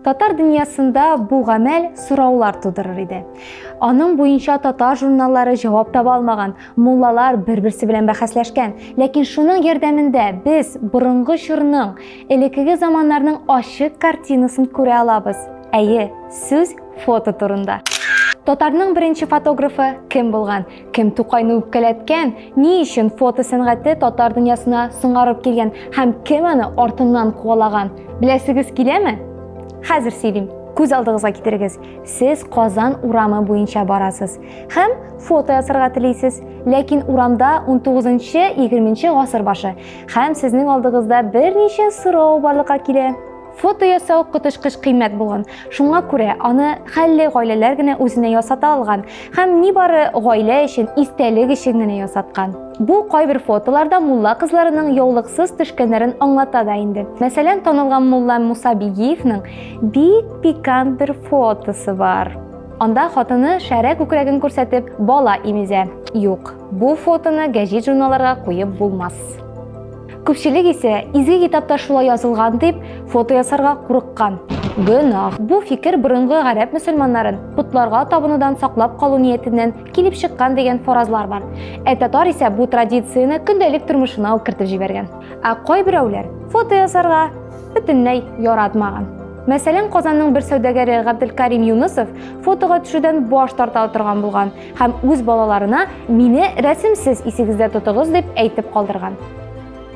Татар дөньясында бу гамәл сораулар тудырыр иде. Аның буенча татар журналлары җавап таба алмаган, муллалар бер-берсе белән бәхәсләшкән. Ләкин шуның ярдәмендә без борынгы чорның, элеккеге заманнарның ачык картинасын күрә алабыз. Әйе, сүз фото турында. Татарның беренче фотографы кем булган? Кем Тукайны үпкәләткән, ни өчен фото сәнгате татар дөньясына соңарып килгән һәм кем аны артыннан куалаган? Беләсегез киләме? Хәзер сөйлим. Күз алдыгызга китерегез. Сез Казан урамы буенча барасыз һәм фото ясарга телисез, ләкин урамда 19-20 гасыр башы һәм сезнең алдыгызда берничә сорау барлыкка килә. Фото ясау коточкыч кыйммәт булган. Шуңа күрә аны хәлле гаиләләр генә үзенә ясата алган һәм нибары гаилә өчен истәлек өчен генә ясаткан. Бу кайбер фотоларда мулла кызларының яулыксыз төшкәннәрен аңлата да инде. Мәсәлән, танылган мулла Муса Бигиевның бик пикант бер фотосы бар. Анда хатыны шәрә күкрәген күрсәтеп бала имезә. Юк, бу фотоны гәҗит-журналларга куеп булмас. Күпчелек исә изге китапта шулай язылган дип фото ясарга курыккан. Гөнаһ. Бу фикер борынгы гарәп мөселманнарын потларга табынудан саклап калу ниятеннән килеп чыккан дигән фаразлар бар. Ә татар исә бу традицияне көндәлек тормышына ук кертеп җибәргән. Ә кайберәүләр фото ясарга бөтенләй яратмаган. Мәсәлән, Казанның бер сәүдәгәре Габделкарим Юнысов фотога төшүдән баш тарта торган булган. Һәм үз балаларына мине рәсемсез исегездә тотыгыз дип әйтеп калдырган.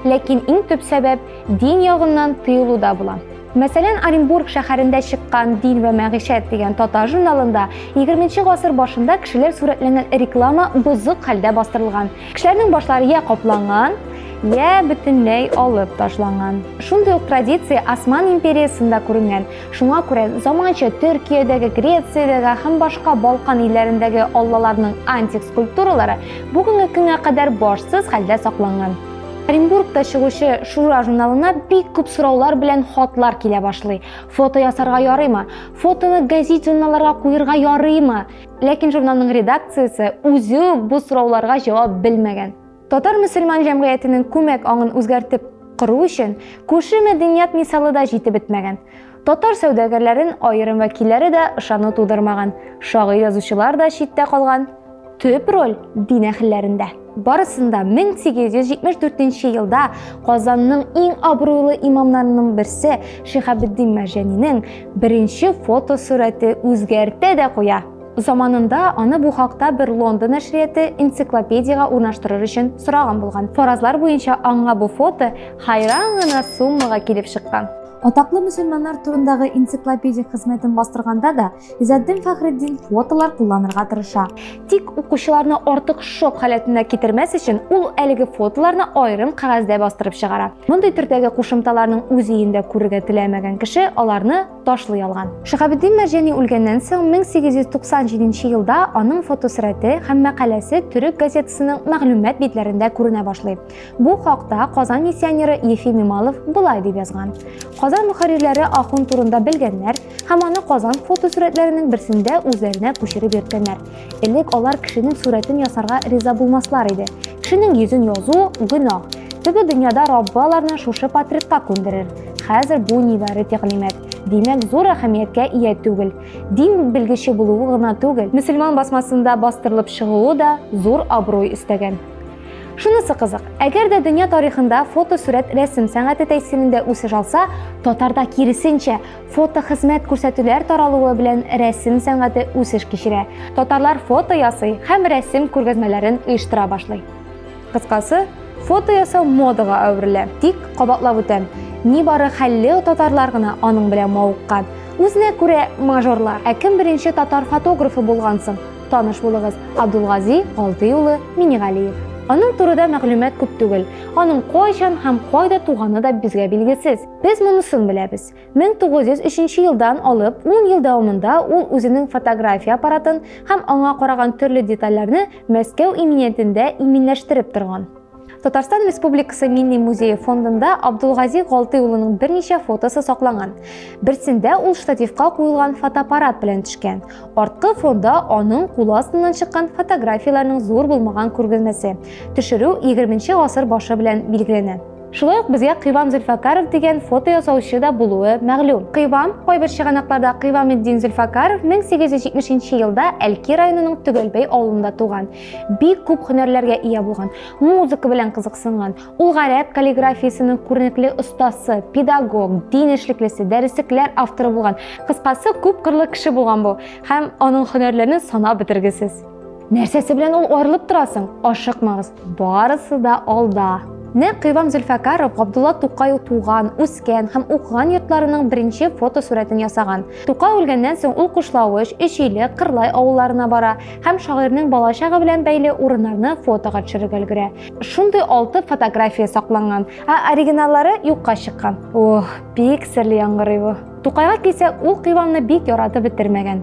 Ләкин иң төп сәбәп дин ягыннан тыелуда була. Мәсәлән, Оренбург шәһәрендә чыккан Дин вә мәгишәт дигән татар журналында 20 гасыр башында кешеләр сурәтләнгән реклама бозык хәлдә бастырылган. Кешеләрнең башлары я капланган, я бөтенләй алып ташланган. Шундый ук традиция Осман империясында күренгән. Шуңа күрә заманча Төркиядәге, Грециядәге һәм башка Балкан илләрендәге аллаларның антик скульптуралары бүгенге көнгә кадәр башсыз хәлдә сакланган. Оренбургта чыгучы Шура журналына бик күп сораулар белән хатлар килә башлый. Фото ясарга ярыймы? Фотоны газет-журналларга куерга ярыймы? Ләкин журналның редакциясе үзе үк бу сорауларга җавап белмәгән. Татар-мөселман җәмгыятенең күмәк аңын үзгәртеп кору өчен күрше мәдәният мисалы да җитеп бетмәгән. Татар сәүдәгәрләрен аерым вәкилләре дә ышану тудырмаган, шагыйрь-язучылар да читтә калган. Төп роль дин әһелләрендә. Барысында 1874 елда Казанның иң абруйлы имамнарының берсе Шиһабетдин Мәрҗәнинең беренче фотосурәте үзгәртә дә куя. Заманында аны бу хакта бер Лондон нәшрияты энциклопедиягә урнаштырыр өчен сораган булган. Фаразлар буенча аңа бу фото хайран гына суммага килеп чыккан. Атаклы мөселманнар турындагы энциклопедик хезмәтен бастырганда да Изәддин Фәхреддин фотолар кулланырга тырыша. Тик укучыларны артык шок халәтенә китермәс өчен ул әлеге фотоларны аерым кәгазьдә бастырып чыгара. Мондый төрдәге кушымталарның үз өендә күрергә теләмәгән кеше аларны Ташлый алган. Шиһабетдин Мәрҗани үлгәннән соң 1897 елда аның фотосурәте һәм мәкаләсе төрек газетасының мәгълүмат битләрендә күренә башлый. Бу хакта Казан миссионеры Ефим Ималов болай дип язган. Казан мөхәррирләре ахун турында белгәннәр һәм аны Казан фотосурәтләренең берсендә үзләренә күчереп йөрткәннәр. Элек алар кешенең сурәтен ясарга риза булмаслар иде. Кешенең йөзен язу гөнаһ. Теге дөньяда Раббы аларны шушы патриотка күндерер. Хәзер бу нибары тәгълимәт. Димәк, зур әһәмияткә ия түгел. Дин белгече булуы гына түгел, мөселман басмасында бастырылып чыгуы да зур абруй өстәгән. Шунысы кызык, әгәр дә дөнья тарихында фотосурәт рәсем сәнгате тәэсирендә үсеш алса, татарда киресенчә, Фотохезмәт күрсәтүләр таралуы белән рәсем сәнгате үсеш кичерә. Татарлар фото ясый һәм рәсем күргәзмәләрен оештыра башлый. Кыскасы, фото ясау модага әверелә. Тик кабатлап үтәм, нибары хәлле татарлар гына аның белән мавыккан. Үзенә күрә мажорлар. Ә кем беренче татар фотографы булган соң? Таныш булыгыз, Абдулгази Галдый улы Минигалиев. Аның турыда мәгълүмат күп түгел. Аның кайчан һәм кайда туганы да безгә билгесез. Без монысын беләбез. 1903 елдан алып 10 ел дәвамында ул үзенең фотография аппаратын һәм аңа караган төрле детальләрне Мәскәү иминиятендә иминләштереп торган. Татарстан Республикасы Милли музее фондында Абдулгази Галты улының берничә фотосы сакланган. Берсендә ул штативка куелган фотоаппарат белән төшкән. Арткы фонда аның кулы астыннан чыккан фотографияләрнең зур булмаган күргәзмәсе. Төшерү 20 нче гасыр башы белән билгеләнә. Шулай ук безгә Кыйвам Зөлфакаров дигән фото ясаучы да булуы мәгълүм. Кыйвам, кайбер чыганакларда Кыйваметдин Зөлфакаров 1870 елда Әлки районының Төгәлбәй авылында туган. Бик күп һөнәрләргә ия булган. Музыка белән кызыксынган. Ул гарәп каллиграфиясенең күренекле остасы, педагог, дин эшлеклесе, дәреслекләр авторы булган. Кыскасы, күп кырлы кеше булган бу һәм аның һөнәрләрен санап бетергесез. Нәрсәсе белән ул арылып торасың? Ашыкмагыз, барысы да алда. Нәкъ Кыйвам Зөлфәкаров Габдулла Тукай туган, үскән һәм укыган йортларының беренче фотосурәтен ясаган. Тукай үлгәннән соң ул Кушлавыч, Өчиле, Кырлай авылларына бара һәм шагыйрьнең балачагы белән бәйле урыннарны фотога төшерергә өлгерә. Шундый алты фотография сакланган, ә оригиналлары юкка чыккан. Ох, бик серле яңгырый бу. Тукайга килсәк, ул Кыйвамны бик яратып бетермәгән.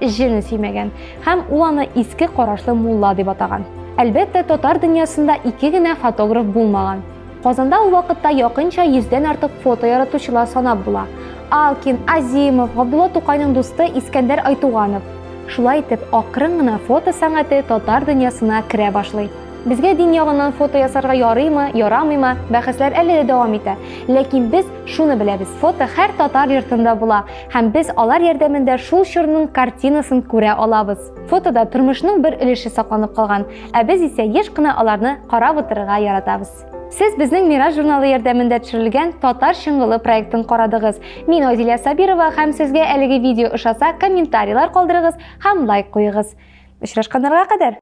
җен сөймәгән һәм ул аны иске карашлы мулла дип атаган. Әлбәттә, татар дөньясында ике генә фотограф булмаган. Казанда ул вакытта якынча 100 дән артык фото яратучылар санап була. Алкин, Азимов, Габдулла Тукайның дусты Искәндәр Айтуганов. Шулай итеп, акрын гына фото сәнгате татар дөньясына керә башлый. Безгә дин ягыннан фото ясарга ярыймы, ярамыймы, бәхәсләр әле дә дәвам итә. Ләкин без шуны беләбез, фото һәр татар йортында була. Һәм без алар ярдәмендә шул чорның картинасын күрә алабыз. Фотода тормышның бер өлеше сакланып калган, ә без исә еш кына аларны карап утырырга яратабыз. Сез безнең Мираж журналы ярдәмендә төшерелгән Татар чыңгылы проектын карадыгыз. Мин Айзилә Сабирова һәм сезгә әлеге видео ошаса, комментарийлар калдырыгыз һәм лайк куегыз. Очрашканнарга кадәр!